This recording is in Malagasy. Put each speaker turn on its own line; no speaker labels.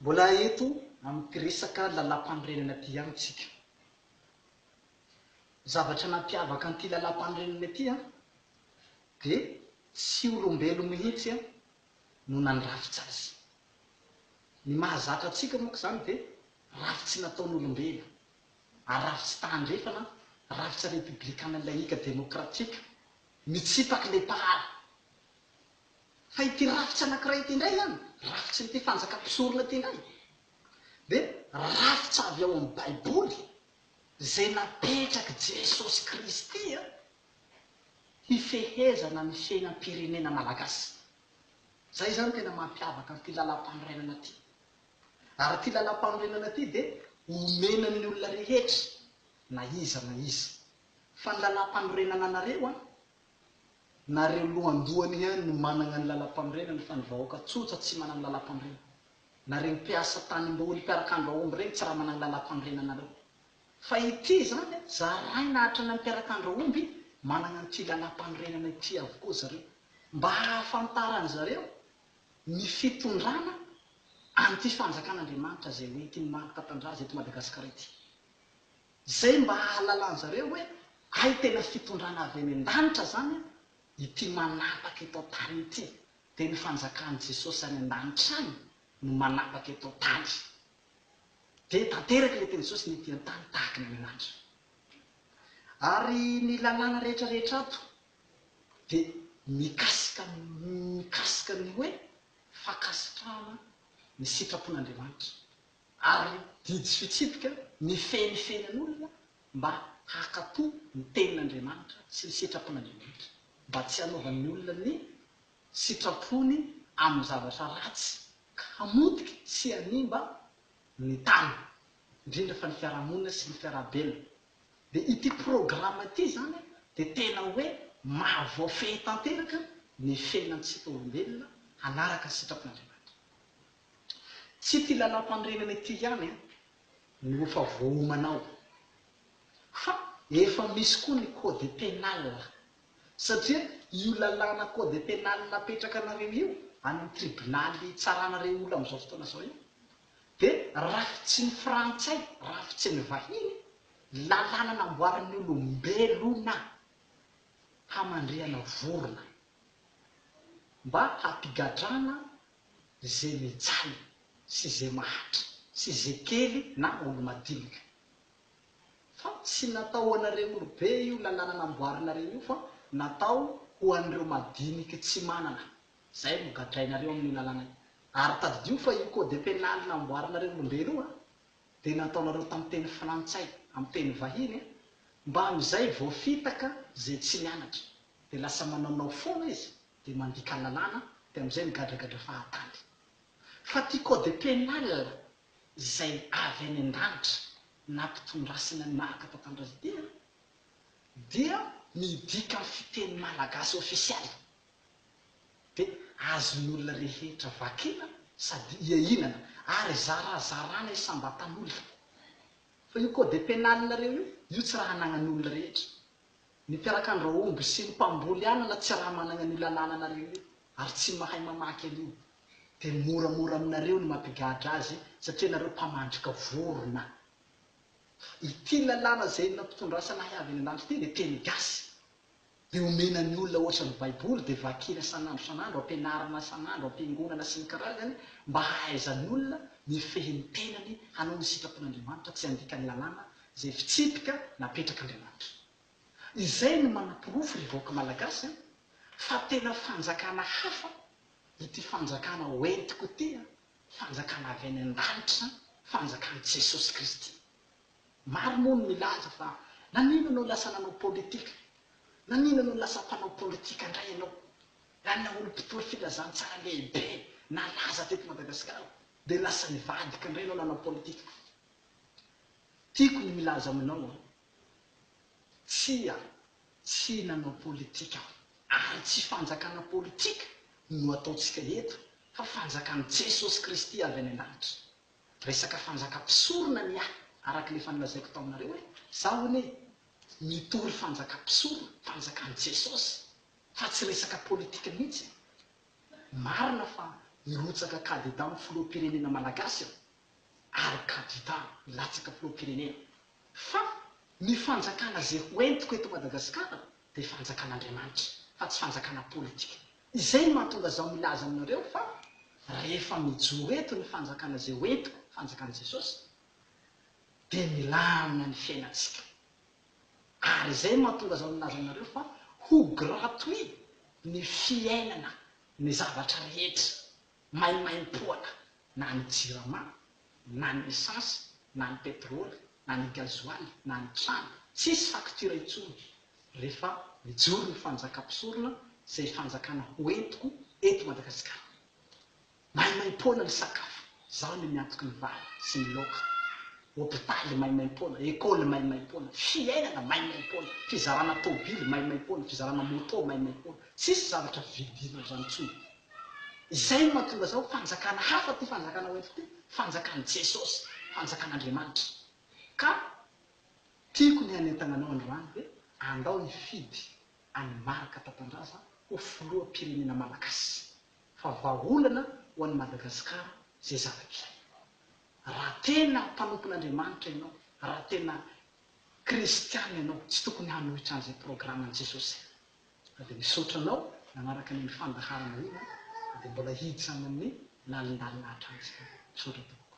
Mbola eto amin'ity resaka lalàmpanorenana ity ihany isika. Ny zavatra nampiavaka an'ity lalàmpanorenana ity dia tsy olombelona mihitsy no nandrafitra azy. Ny mahazatra antsika manko izany dia rafitsy nataon'olombelona, ary rafitsy tahandrefana, rafitra repoblikanina laika demokratika, mitsipaka ilay mpahary. Fa ity rafitra anankiray ity indray izany, rafitrin'ity fanjakam-pisorona ity indray, dia rafitra avy ao amin'ny Baiboly izay napetrak'i Jesosy Kristy hifehezana ny fiainam-pirenena malagasy. Izay izany no tena mampiavaka an'ity Lalàmpanorenana ity. Ary ity Lalàmpanorenana ity dia omena ny olona rehetra, na iza na iza. Fa ny Lalàmpanorenana anareo an! nareo lohandohany ihany no managna ny lalampanorenana fa ny vahoaka tsotsa tsy managny lalampanorenana nareo mpiasa tanimboly mpiarakandro aomby regny tsy raha managny lalampanorenana nareo fa ity zany a zaraina hatrany amy mpiarakandro aomby managna an'ity lalampanorenana ity avokoa zareo mba hahafantaran zareo ny fitondrana an'ity fanjakan'Andriamanitra zay hoentiny maro tatandraza eto Madagasikara ity. Izay mba hahalalan'zareo hoe hay tena fitondrana avy any an-danitra zany ity manapaka eto an-tany ity, dia ny fanjakan'i Jesosy any an-danitra any no manapaka eto an-tany. Dia tanteraka ilay teny Jesosy ny ety an-tany tahaka ny any an-danitra. Ary ny lalàna rehetra rehetra ato dia mikasika mikasika ny hoe fankasitrahana ny sitrapon'Andriamanitra. ary didy sy fitsipika mifehy ny fiainan'olona mba haka-po ny Tenin'Andriamanitra sy ny sitrapon'Andriamanitra, mba tsy hanaovan'ny olona ny sitrapony amin'ny zavatra ratsy ka hamotika sy hanimba ny tany, indrindra fa ny fiarahamonina sy ny fiarahabelona. Dia ity programa ity izany dia tena hoe maha voafehy tanteraka ny fiainantsika olombelona hanaraka ny sitrapon'Andriamanitra. Tsy ity lalàmpanorenana ity ihany no efa voaomana ao fa efa misy koa ny code pénal satria io lalàna code pénal napetrakanareo io an'ny tribonaly hitsarana ireo olona amin'izao fotoana izao io dia rafitsin'ny frantsay, rafitsin'ny vahiny, lalàna namboarin'ny olombelona hamandrihana vorona mba hampigadrana ze mijaly sy ze mahantra sy ze kely na olo madinika fa tsy natao ho anareo olo be io lalàna namboarinareo io fa natao ho an'ireo madiniky tsy manana zay no gadrainareo amin'io lalàna io ary tadidio fa io code penal namboarinareo olombelo io a de nataonareo tam teny frantsay am teny vahiny a mba amizay voafitaka ze tsy nianatra de lasa manaonao foana izy dia mandika lalàna dia amin'izay migadragadra fahatany. Fa ity code pénal izay avy any an-danitra nampitondrasina ny marika tantandrahidera dia midika amin'ny fiteny malagasy ofisialy dia azon'olona rehetra vakiana sady iainana ary zarazarana isam-batan'olona. Fa io code pénal-nareo io, io tsy raha anagnan'olona rehetra. Ny mpiarakan-drahomby sy ny mpamboly anana tsy raha managna an'io lalàna anareo io ary tsy mahay mamaky an'io dia moramora aminareo ny mampigadra azy satria nareo mpamandrika vorona. Ity lalàna izay nampitondrasana ahy avy any an-danitra ity dia teny gasy. Dia omena ny olona ohatran'ny baiboly dia vakina san'andro san'andro, ampianarina san'andro, ampiangonana sy ny karazany mba hahaizan'olona mifehy ny tenany hanao ny sitrapon'Andriamanitra, tsy handika ny lalàna izay fitsipika napetrak'Andriamanitra. Izay no manaporofo ry vahoaka Malagasy an, fa tena fanjakana hafa ity fanjakana ho entiko ity an, fanjakana avy any an-danitra an, fanjakan'i Jesosy Kristy. Maro moa no milaza fa naninona no lasa nanao politika, naninona no lasa mpanao politika indray ianao, raha ilay olom-pitory filazantsara lehibe nalaza teto Madagasikara dia lasa nivadika indray ianao nanao politika. Tiako ny hilaza aminao aho, tsia, tsy nanao politika aho, ary tsy fanjakana politika no ataontsika eto fa fanjakan'i Jesosy Kristy avy any an-danitra. Resaka fanjaka mpisorona ny ahy, araka ilay efa nolazaiko taminareo hoe, za hono e, mitory fanjaka mpisorona, fanjakan'i Jesosy, fa tsy resaka politika mihitsy. Marina fa hirotsaka kandida amin'ny filoham-pirenena malagasy aho, ary kandida hilatsaka filoham-pirenena, fa ny fanjakana izay ho entiko eto Madagasikara dia fanjakan'Andriamanitra fa tsy fanjakana politika. Izay no mahatonga zaho milaza aminareo fa rehefa mijoro eto ny fanjakana izay ho entiko, fanjakan'i Jesosy, dia milamina ny fiainantsika. Ary izay no mahatonga zaho milaza aminareo fa ho gratuit ny fiainana ny zavatra rehetra. maimaimpoana na ny jirama na ny esansy na ny petrole na ny gazoaly na ny trano tsisy facture intsony refa mijoro ny fanjaka mpisorona zay fanjakana hoentiko eto Madagascar maimaimpoana ny sakafo zaho le miantoky ny vary sy ny laoka hopitaly maimaimpoana ecole maimaimpoana fiainana maimaimpoana fizarana tobily maimaimpoana fizarana moto maimaimpoana tsisy zavatra vidina zany tsony Izay no mahatonga izao fanjakana hafa ity fanjakana ho entiko ity, fanjakan'i Jesosy, fanjakan'Andriamanitra. Ka tiako ny hanentana anao androany hoe andao hifidy an'i Marc Tatandraza ho filoham-pirenena malagasy fa vahaolana ho an'i Madagasikara izay zavatra izay. Raha tena mpanompon'Andriamanitra ianao, raha tena kristiana ianao, tsy tokony hanohitra an'izay programan'i Jesosy izay. Na dia misaotra anao nanaraka ny fandaharana iny aho, na dia mbola hijano amin'ny lalindalina hatrany izany. Misaotra tompoko.